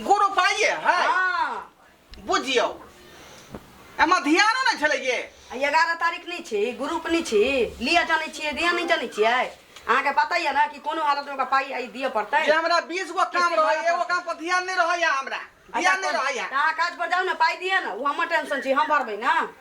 गुरु पाइए है हाँ बुझियौ एमे ध्यानो नहि छलै ये आ एगारह तारीख नहि छी ग्रुप नहि छी लिअ जानै छियै दिअ नहि जानै छियै अहाँके पता यऽ ने कि कोनो हालतमे ओकरा पाइ आइ दिअ पड़तै जे हमरा बीस गो काम रहै एगो काम पर ध्यान नहि रहैया हमरा ध्यान नहि रहैया तऽ अहाँ काज पर जाउ ने पाइ दिअ ने ओ हमर टेंशन छै हम भरबै ने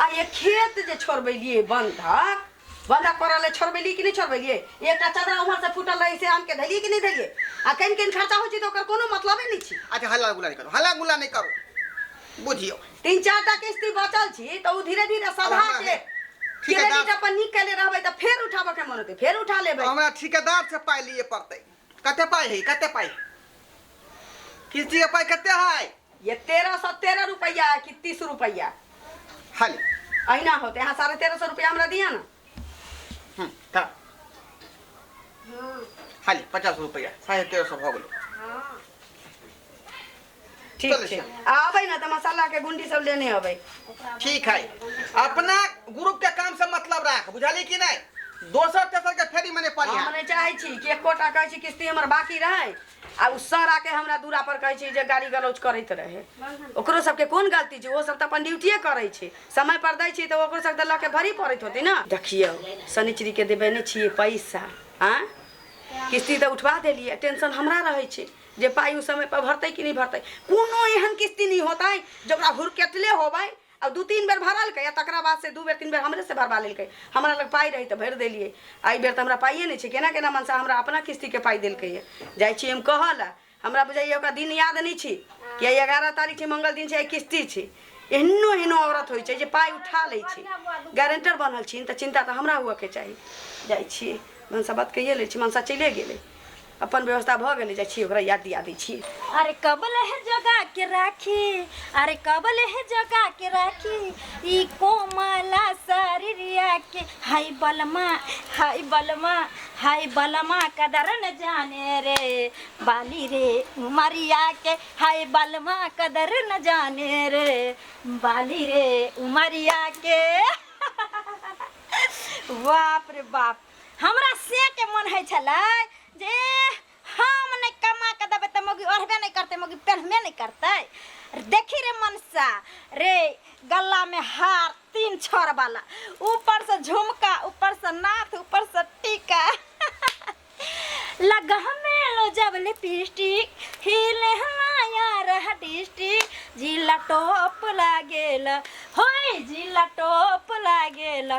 आ ये खेत जे छोड़बेलिए बंधक बंधक पड़ल है छोड़बेली कि नहीं छोड़बेलिए एकटा चदरा उम्हर से फूटल रहे से आन के धलिए कि नहीं धलिए आ कहीं कहीं खर्चा हो तो ओकर कोनो मतलबे नहीं छी अच्छा हल्ला गुला नहीं करो हल्ला गुला नहीं करो बुझियो तीन चार टा किस्ती बचल छी तो उ धीरे धीरे सधा हमरा के हे- ठेकेदार- क्रेडिट अपन निकले रहबे तो फिर उठाबे के मन होते फिर उठा लेबे हमरा ठेकेदार से पाइ लिए पड़तै कते पाइ है कते पाइ किस्ती के पाइ कते है ये तेरह सौ तेरह रुपया है कि तीस रुपया हल अहिना होते यहाँ साढ़े तेरह सौ रुपया हमरा दिया ना हम्म, हाँ। हल पचास रुपया साढ़े तेरह सौ भऽ गेलो ठीक चलू, छै चलू। आ अबै ना तऽ मसाला के गुंडी सब लेने अबै ठीक है अपना ग्रुप के काम से मतलब राख बुझली कि नहीं दोसर तेसर के फेरी मने पड़ी हम है नहीं चाहै छी कि एकोटा कहै छी किस्ती हमर बाकी रहै आ उ सर आके हमरा दूरा पर कहै छै जे गाड़ी गलौज करैत रहे ओकरो सबके कोन गलती छै ओ सब तऽ अपन ड्यूटिए करै छै समय पर दै छै तऽ ओकरो सब तऽ लऽ के भरी पड़ैत होतै ने देखियौ शनिचरी के देबे नहि छियै पैसा आ किस्ती तऽ उठवा देलियै टेंशन हमरा रहै छै जे पाइ ओ समय पर भरतै कि नहि भरतै कोनो एहन किस्ती नहि होतै जकरा हुरकेटले होबै अब दू तीन बेर भरलकै आ तकरा बाद से दू बेर तीन बेर हमरे से भरवा लेलकै हमरा लग पाइ रही तऽ भरि देलियै एहि बेर तऽ हमरा पाइए नहि छै केना केना मनसा हमरा अपना किस्तीके पाइ देलकै यऽ जाइ छी हम कहऽ लए हमरा बुझाइए ओकरा दिन याद नहि छी कि आइ एगारह तारीख छै मंगल दिन छै आइ किस्ती छै एहनो एहनो औरत होइ छै जे पाइ उठा लै छै गारंटर बनल छी तऽ चिन्ता तऽ हमरा हुअके चाही जाइ छी मनसा बात कहिए लै छी मनसा चलिए गेलै अपन व्यवस्था भऽ गेलै जाइ छी ओकरा याद दिया दै छी अरे कबल है जगा के राखी अरे कबल है जगा के राखी ई कोमला शरीरिया के हाय बलमा हाय बलमा हाय बलमा कदर न जाने रे बाली रे उमरिया के हाय बलमा कदर न जाने रे बाली रे उमरिया के बाप रे बाप हमरा से के मन है छले जे हम नहीं कमा के देबे त मौगी ओढ़बे नहीं करते मौगी पहनबे नहीं करते देखी रे मनसा रे गला में हार तीन छर वाला ऊपर से झुमका ऊपर से नाथ ऊपर से टीका लगा में लो जब लिपस्टिक हिले हमाया रह डिस्ट्रिक जिला टॉप लागेला होय जिला टॉप लागेला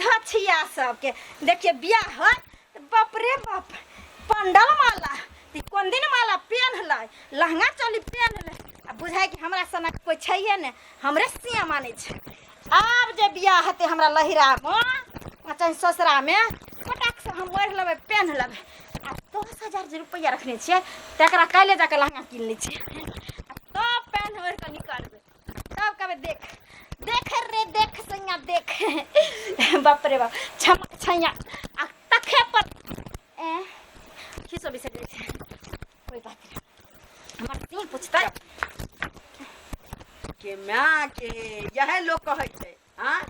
धछिया सबके देखिए बियाह है तो बाप रे बाप पंडल माला तो कोन दिन माला पेन लै लहंगा चोली पेन लै आ बुझाए कि हमरा सनक कोई छैहे ने हमरे सिया माने छै आब जे बियाह हेतै हमरा लहिरामे आ चाहे ससुरामे फटाकसँ हम ओढ़ि लेबै पेन लेबै आ दस हजार जे रुपैआ रखने छियै तकरा काल्हि जाकऽ लहंगा कीन लै छियै आ तब पेन ओढ़ि कऽ निकलबै सब कहबे देख देख रे देख सैया देख बाप रे बाप छम छैया आ तखे पर ए की सब बिसर जाय छै कोई बात नहीं हमर तीन पूछता के माँ के यह लोग कहै छै हाँ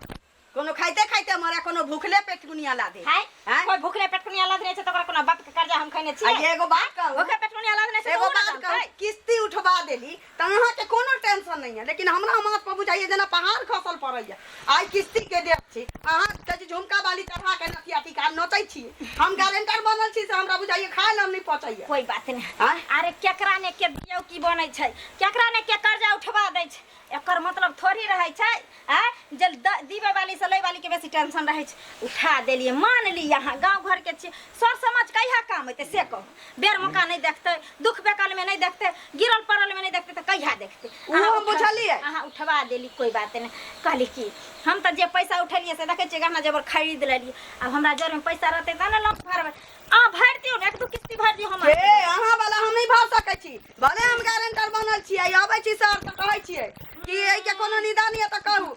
कोनो खाइते खाइते मरे कोनो भूखले पेट कुनिया ला दे हाय हैं? कोई भूखले पेट कुनिया लाद नहीं छै तोरा कोनो बाप के कर्जा हम खैने आ छी एगो बात कहू भूखले पेट कुनिया लाद नहीं छै एगो बात कहू किस्ती उठवा देली त अहाँ के कोनो टेंशन नहीं है लेकिन हमरा माथ पर बुझाइए जेना पहाड़ खसल पड़ैया आइ किस्ती के देब छी अहाँ कहै छी झुमका बाली चढ़ा के नथिया टीका नोचै छी हम गारंटर बनल छी से हमरा बुझाइए खाए लए हम नहीं पचैया कोई बात नहीं आँय? अरे केकरा ने के दियौ की बनै छै केकरा ने के कर्जा उठवा दै छै एकर मतलब थोड़ी रहै छै आ जे दीबे वाली से लै वाली के बेसी टेंशन रहै छै उठा देलिए मान ली अहाँ गाँव घर के छी सर समझ कहिया काम हेतै से कहू बेर मौका नहीं देखते दुख बेकल में नहीं देखते गिरल पड़ल में नहीं देखते तो कहिया देखते अहाँ बुझलिए अहाँ उठवा देली कोई बात नहीं कहली की हम तो जे पैसा उठलिए से देखे गहना जेबर खरीद लेलिए अब हमरा जर में पैसा रहते तो ना लोन भरबे अहाँ भरि दियौ ने एक दू किस्ती भरि दियौ हम अहाँ वाला हम नहीं भर सकै छी भले हम गारंटर बनल छियै अबै छी सर तऽ कहै छियै कि एहिके कोनो निदान यऽ तऽ कहू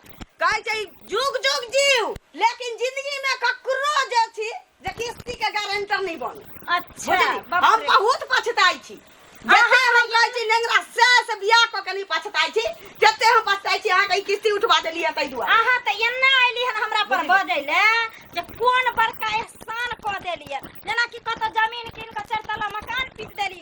कहै छै जुग जुग जीव लेकिन जिंदगी में ककरो जे छी जे किस्ती के गारंटर नहीं बन अच्छा बुझली बाप हम रे। बहुत पछताई छी जते हम कहै छी नेंगरा से से बियाह कऽ के नहीं पछताई छी जते हम पछताई छी अहाँके ई किस्ती उठवा देलियै ताहि दुआरे अहाँ तऽ एना अयली हन हमरा पर बजै ले जे कोन बड़का एहसान कऽ देलियै जेनाकि कतौ जमीन कीन कऽ चारि तल्ला मकान पीट देली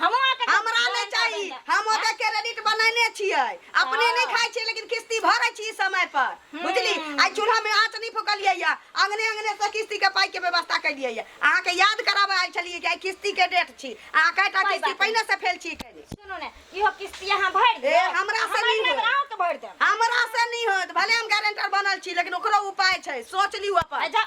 हमहूँ अहाँके देब। हमरा नहि भरन चाही भरन जायब। हम ओकर क्रेडिट बनैने छियै अपने हँ। नहि खाइ छियै लेकिन किस्ती भरै छी समय पर बुझली आइ चूल्हा में आँच नहि फुकलियै या अंगने अंगने से किस्ती के पाइ के व्यवस्था कैलियै या अहाँ के याद कराबे आयल छलियै कि आइ किस्ती के डेट छी अहाँ कैटा कोइ किस्ती बात पहिने से फेल छी कैने सुनू ने इहो किस्ती अहाँ भरि ए, देब हमरा से नहि होत। अहाँके भरि देब हमरा से नहीं होत भले हम गारंटर बनल छी लेकिन ओकरो उपाय छै सोच लियो अपन अच्छा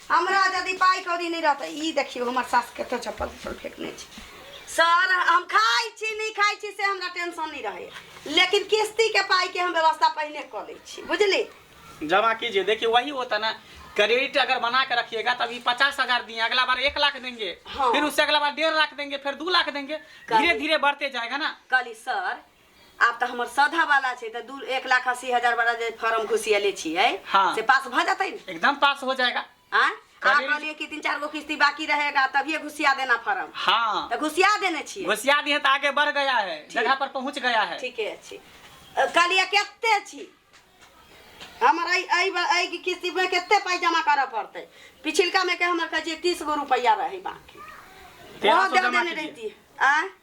हमरा यदि पाई कौड़ी नहीं रहता ई देखियो हमर सास कत चप्पल उप्पल फेंकने छी सर हम खाई छी नहीं खाई छी से हमरा टेंशन नहीं रहे लेकिन किस्ती के पाई के हम व्यवस्था पहले कर ले छी बुझली जमा कीजिए देखिए वही होता ना क्रेडिट अगर बना के रखिएगा तभी पचास हजार दिए अगला बार एक लाख देंगे हाँ। फिर उससे अगला बार डेढ़ लाख देंगे फिर दो लाख देंगे धीरे धीरे बढ़ते जाएगा ना कली सर आब तऽ हमर सधा वाला छै तऽ दू एक लाख अस्सी हजार वाला जे फॉर्म घुसियले छियै हाँ। से पास भऽ जेतै ने एकदम पास हो जाएगा आँय? अहाँ करीब- कहलियै कि तीन चार गो किस्ती बाकी रहेगा तभिए घुसिया देना फॉर्म हाँ तऽ घुसिया देने छियै घुसिया दिए तो आगे बढ़ गया है जगह पर पहुंच गया है ठीके छी अ, कहलियै कते छी हमर एहि एहि बा- एहि के किस्तीमे कते पाइ जमा करऽ पड़तै पिछिलकामे के हमर कहै छियै तीस गो रुपैआ रहै बाँकी तेरह ओहो सौ दे जमा देने कीजिए। रहिती आँय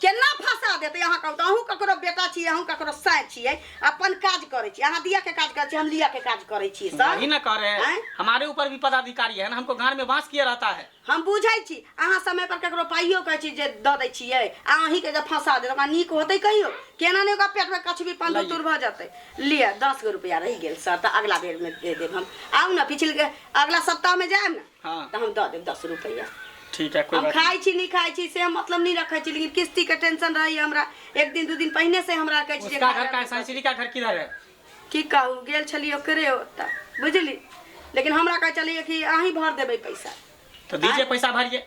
केना फंसा देते अहाँ कहू तो अहूँ ककरो बेटा छी अहूँ ककरो साय छी अपन काज करे छी अहाँ दिया के काज करे छी हम लिया के काज करे छी सर ही ना कह रहे हैं हमारे ऊपर भी पदाधिकारी है ना हमको गांड में बांस किया रहता है हम बुझे छी अहाँ समय पर ककरो पाइयो कहे छी जे द दे छी आ अही के जब फंसा दे ओकरा नीक होते कहियो केना ने ओकरा पेट में कछ भी पान तुर भ जाते लिए दस गो रुपया रह गेल सर तो अगला बेर में दे देब हम आउ ना पिछले अगला सप्ताह में जाए ना हाँ तऽ हम दऽ देब दस रुपैआ ठीक है कोई हम बात खाइ छी नहि खाइ छी से हम मतलब नहि रखै छी लेकिन किस्तीके टेंशन रहैए हमरा एक दिन दू दिन पहिने से हमरा कहै छी जे उसका खा घर ले। का है सांचली का घर किधर है की कहू गेल छलियै ओकरे ओतऽ बुझली लेकिन हमरा कहै छलियै कि अहीं भर देबै पैसा तो दीजिए पैसा भरिए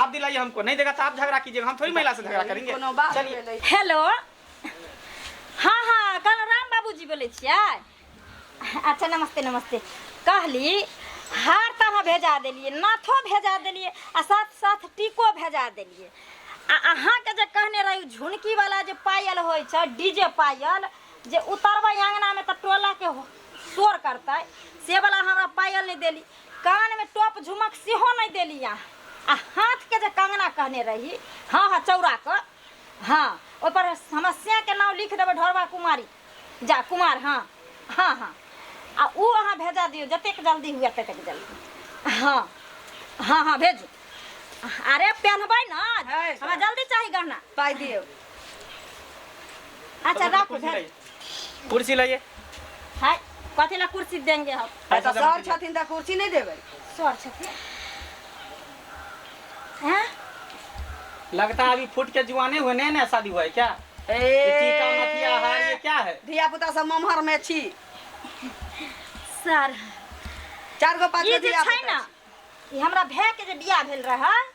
आप दिलाइए हमको नहीं देगा तो आप झगड़ा कीजिएगा हम थोड़ी महिला से झगड़ा करेंगे कोनो बात चलिए भेलै हेलो हाँ हाँ कल राम बाबूजी बोलै छियै अच्छा नमस्ते नमस्ते कहली हार तऽ अहाँ भेजा देलियै नाथो भेजा देलियै आ साथ साथ टीको भेजा देलियै आ अहाँके जे कहने रही झुनकीवला जे पायल होइ छै डीजे पायल जे उतरबै अङ्गनामे तऽ टोलाके हो- शोर करतै से बला हमरा पायल नहि देली कान में टॉप झुमक सेहो नहीं देली अहाँ आ हाथ के जे कंगना कहने रही हाँ हाँ चौरा कर हाँ ओहि पर समस्या के नाम लिख देबै ढोरबा कुमारी जा कुमार हाँ हाँ हाँ आ ओ अहाँ भेजा दियौ जतेक जल्दी हुए ततेक जल्दी हाँ हाँ हाँ भेजू अरे पहनबै ना है, हमरा जल्दी चाही गहना पाइ दियौ अच्छा रख कुर्सी उधर लाइए। कुर्सी लाइए हाय कथी ला कुर्सी देंगे हम आ त सर छथिन त कुर्सी नै देबै सर छथिन हैं लगता है अभी फूट के जुआने हुए नया नया शादी हुआ है क्या ए ये टीका मथिया हार ये क्या है धिया पुता सब ममहर में छी सर चार गो पाँच ई गो जे धिया छै पुता ने ई हमरा भए के जे बियाह भेल रहै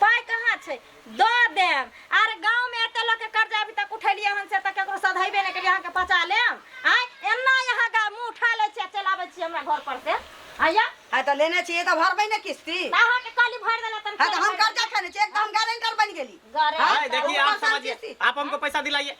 पाइ कहाँ छै दऽ देम आर गाँवमे एते लोकके कर्जा अभी तक उठेलियै हन से तऽ ककरो सधैबे नहि केलियै अहाँके पचा लेम आँय एना अहाँ गा मुँह उठा लै छियै आ चलि आबै छियै हमरा घर पर से आइया है तऽ लेने छियै तऽ भरबै ने किस्ती तऽ अहाँके काली भरि देला तन है तऽ हम कर्जा खेने छियै एक तऽ हम गारंटर बनि गेली गारे हाँ, है, देखिए आप समझिए आप हमको पैसा दिलाइए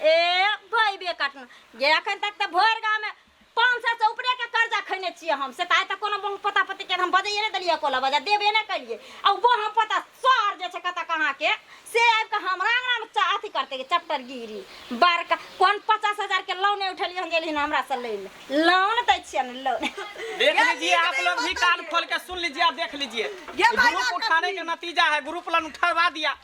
ए भैबे कटना जे एखन तक तऽ भरि गाँवमे पाँच सए से ऊपरे के कर्जा खैने छियै हम से तऽ आइ तक कोनो बहु पता पति के हम बजाइए नहि देलियै कोला बजा देबे नहि केलियै आ ओ बहु पता सर जे छै कतऽ कहाँ के से आबि कऽ हमरा अंगना मे चा- अथी करते के चैप्टर गिरी बड़का कोन पचास हजार के लोन उठेलियै हन गेलियै हमरा से लै ले लोन दै छियै ने लोन देख यार, लीजिए नीक आप नहीं लोग भी होता कान है। खोल के सुन लीजिए आप देख लीजिए ये भाई ग्रुप साहब उठाने कभी- का नतीजा है ग्रुप लन उठवा दिया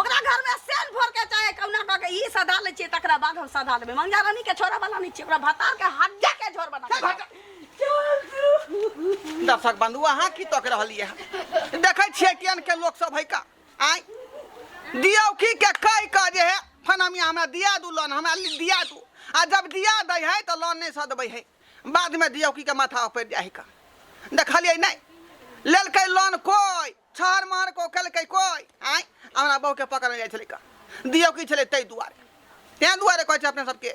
ओकरा घरमे सेन भरके चाहे कौना कऽ के ई सधा लै छियै तकरा बाद हम सधा देबै मंगजा रानी के छोरा वाला नहि छियै ओकरा भतार के हड्डा के झोर बना के देबै। दर्शक बंधु अहाँ की तक रहलियै हँ? देखै छियै टियन के लोक सब है का आय दियौकी के कहि कऽ जे है फनामिया हमरा दिया दू लोन हमरा लि- दिया दू आ जब दिया दै है तऽ लोन नहि सदबै है बादमे दियौकी के माथा ऊपर जाइ है का देखलियै नहि लेलकै लोन कोइ छर मार को खेलकै कोइ आँय हमरा बहुके पकड़ने जाइ छलै दियौ की छलै ताहि दुआरे ताहि दुआरे कहै छै अपने सबके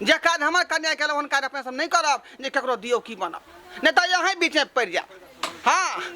जे काज हमर कन्या केलहुँ हन काज अपने सब नहि करब जे ककरो दियौ की बनब नहि तऽ अहीं बीचमे पड़ि जायब हँ